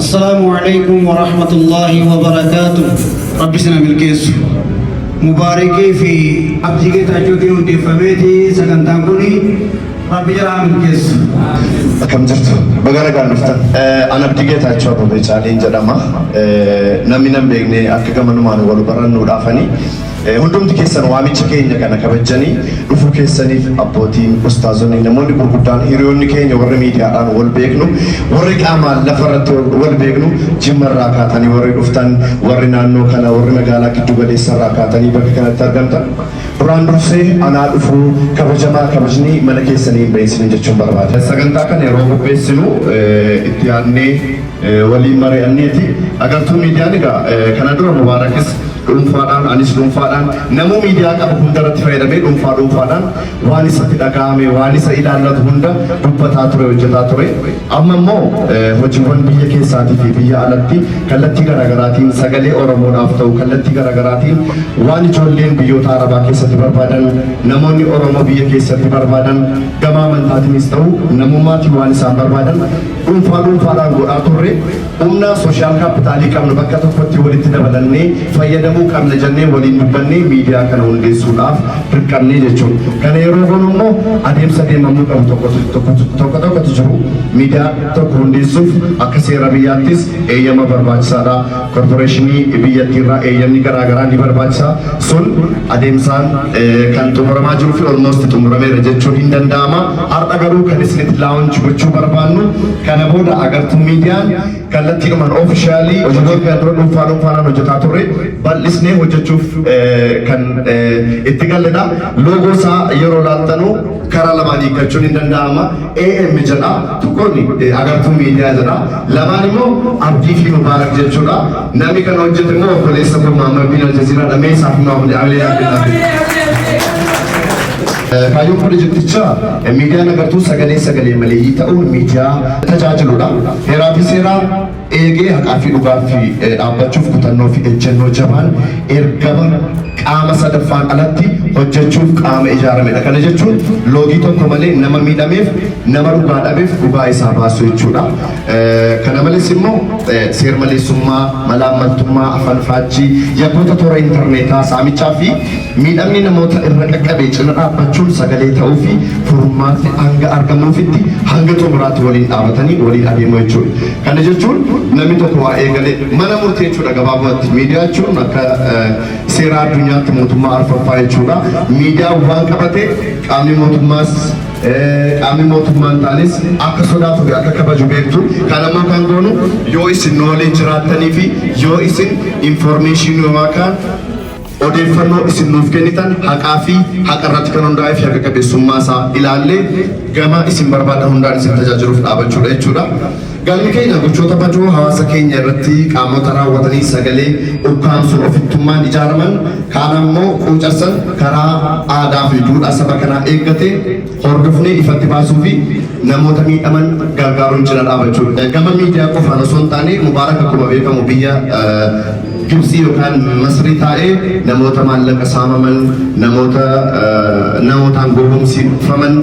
Assalaamu aleykum warahmatullaahi wabarakaatuh Rabbi sina milkeessu Mubaarikii fi Abdii Geetaachuutiin hundeeffameeti sagantaan kuni Rabbi jalaa milkeessu Akkam jirtu? Baga nagaan dhuftan. An Abdii Geetaachoo Abbabee Caaleen jedhama. Namni nan beekne akka gamanumaan wal barannuudhaafani. Hundumti keessan waamicha keenya kana kabajjanii dhufuu keessaniif abbootiin, ustaazonni, namoonni gurguddaan, hiriyoonni keenya warri miidiyaadhaan wal beeknu, warri qaamaan lafa irratti wal beeknu, Jimma irraa kaatanii warri dhuftan, warri naannoo kana, warri magaalaa giddu galeessa irraa kaatanii bakka kanatti argamtan, duraan dursee anaa dhufuu kabajamaa kabajni mana keessanii hin bahin isiniin jechuun barbaada. Sagantaa kana yeroo qopheessinu itti yaadnee. waliin mari'anneeti. Agartuu miidiyaan egaa kana dura Mubaarakis dhuunfaadhaan anis dhuunfaadhaan namuu miidiyaa qabu hunda irratti fayyadamee dhuunfaa dhuunfaadhaan waan isatti dhaga'ame waan isa ilaallatu hunda dubbataa ture hojjetaa ture. Amma immoo hojiiwwan biyya keessaatii fi biyya alatti kallattii garaagaraatiin sagalee Oromoodhaaf ta'u kallattii garaagaraatiin waan ijoolleen biyyoota Arabaa keessatti barbaadan namoonni Oromoo biyya keessatti barbaadan gama amantaatiinis ta'u namummaatiin waan isaan barbaadan dhuunfaa dhuunfaadhaan godhaa turre humna sooshaal kaappitaalii qabnu bakka tokkotti walitti dabalannee fayyadamuu qabna jennee waliin dubbannee miidiyaa kana hundeessuudhaaf dirqamnee jechuudha. Kana yeroo goonu immoo adeemsa deemamuu qabu tokko tokkotu tokko tokkotu jiru. Miidiyaa tokko hundeessuuf akka seera biyyaattis eeyyama barbaachisaadha. Korporeeshinii biyyattiirraa eeyyamni garaagaraa ni barbaachisa. Sun adeemsaan eh, kan xumuramaa jiruu fi olmoosti xumurameera jechuun hin danda'ama. Har'a garuu kan isinitti launch gochuu barbaannu kana booda Agartuu Miidiyaan kallattiidhumaan officially hojiilee kana dura dhuunfaa dhuunfaadhaan hojjetaa turre bal'isnee hojjechuuf kan itti galledha. Loogoo isaa yeroo ilaaltanu karaa lamaan hiikkachuun hin danda'ama. AM jedha, tokkoon Agartuu Miidiyaa jedha, lamaan immoo Abdii fi Mubaarak jechuudha. Namni kana hojjete immoo obboleessa koo Maammardiin Aljaziiraadha. Mee isaaf immoo hamilee hamilee. Kaayyoon pirojektichaa miidiyaan agartuu sagalee sagalee maleeyyii ta'uun miidiyaa tajaajiludha. Heeraa fi seeraa eegee haqaa fi dhugaaf dhaabbachuuf kutannoo fi ejjennoo jabaan ergama qaama sadaffaan alatti hojjechuuf qaama ijaaramedha. Kana jechuun loogii tokko malee nama miidhameef nama dhugaa dhabeef dhugaa isaa baasuu jechuudha. Kana malees immoo seermaleessummaa, malaammaltummaa, afanfaachii, yakkoota toora intarneetaa, saamichaa fi Miidhamni namoota irra qaqqabe cina dhaabbachuun sagalee ta'uu fi furmaatni hanga argamuufitti hanga xumuraatti waliin dhaabatanii waliin adeemuu jechuudha. Kana jechuun namni tokko waa eegalee mana murtii jechuudha gabaabumatti. Miidiyaa jechuun akka seeraa addunyaatti mootummaa arfaffaa jechuudha. Miidiyaan waan qabate qaamni mootummaas qaamni mootummaa hin taanes akka sodaatu fi akka kabaju beektu. Kana immoo kan goonu yoo isin nu waliin jiraattanii fi yoo isin informeeshinii yookaan Odeeffannoo isin nuuf kennitan haqaa fi haqa irratti kan hundaa'ee fi haqa qabeessummaa isaa ilaallee gama isin barbaadan hundaan isin tajaajiluuf dhaabachuudha jechuudha. Galmi keenya gochoota badoo hawaasa keenya irratti qaamota raawwatanii sagalee ukkaamsuun ofittummaan ijaaraman kaan ammoo quucarsan karaa aadaa fi duudhaa saba kanaa eeggate hordofnee ifatti baasuu fi namoota miidhaman gargaaruun cina dhaabachuu gama miidiyaa qofaan osoo hin taane mubaarak akkuma beekamu biyya gibsii yookaan masrii taa'ee namoota maallaqa saamaman namoota namootaan gowwomsifaman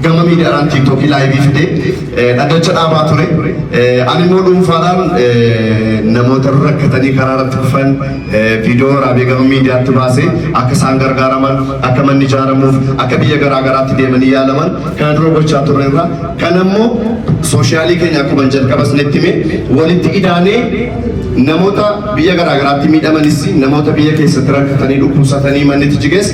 gama miidiyaadhaan tiiktookii laayivii fide dhaddacha dhaabaa ture ani immoo dhuunfaadhaan namoota rakkatanii karaa irratti kufan Viidiyoo waraabee gama miidiyaatti baase akka isaan gargaaraman, akka manni ijaaramuuf, akka biyya garaa garaatti deemanii yaalaman kana dura gochaa turre irra kan ammoo sooshiyaalii keenya akkuma jalqaba isinitti hime walitti idaanee namoota biyya garaa garaatti miidhamanis namoota biyya keessatti rakkatanii dhukkubsatanii mannitti jiges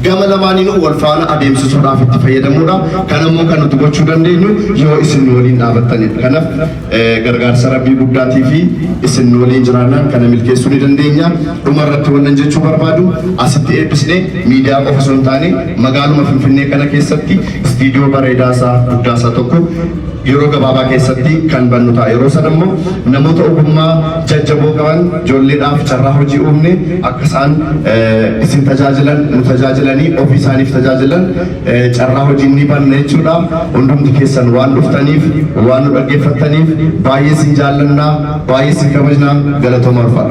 gama lamaaniinuu wal faana adeemsisuudhaaf itti fayyadamuudha. Kan ammoo kan nuti gochuu dandeenyu yoo isin waliin dhaabattanidha. Kanaaf Gargaarsa Rabbii guddaati fi isin waliin jiraannaan kana milkeessuu ni dandeenya. Dhuma irratti wannan jechuu barbaadu asitti eebbisnee miidiyaa qofa osoo hin taane magaaluma Finfinnee kana keessatti istiidiyoo bareedaa isaa guddaa isaa tokko yeroo gabaabaa keessatti kan bannu ta'a. Yeroo sana immoo namoota ogummaa jajjaboo qaban ijoolleedhaaf carraa hojii uumne akka isaan isin tajaajilan nu tajaajilanii ofii isaaniif tajaajilan Carraa hojii ni banna jechuudha. Hundumti keessan waan dhuftaniif, waan nu dhaggeeffattaniif baay'ee isin jaallanna, baay'ee isin kabajna. Galatoomaa ulfaadhaa.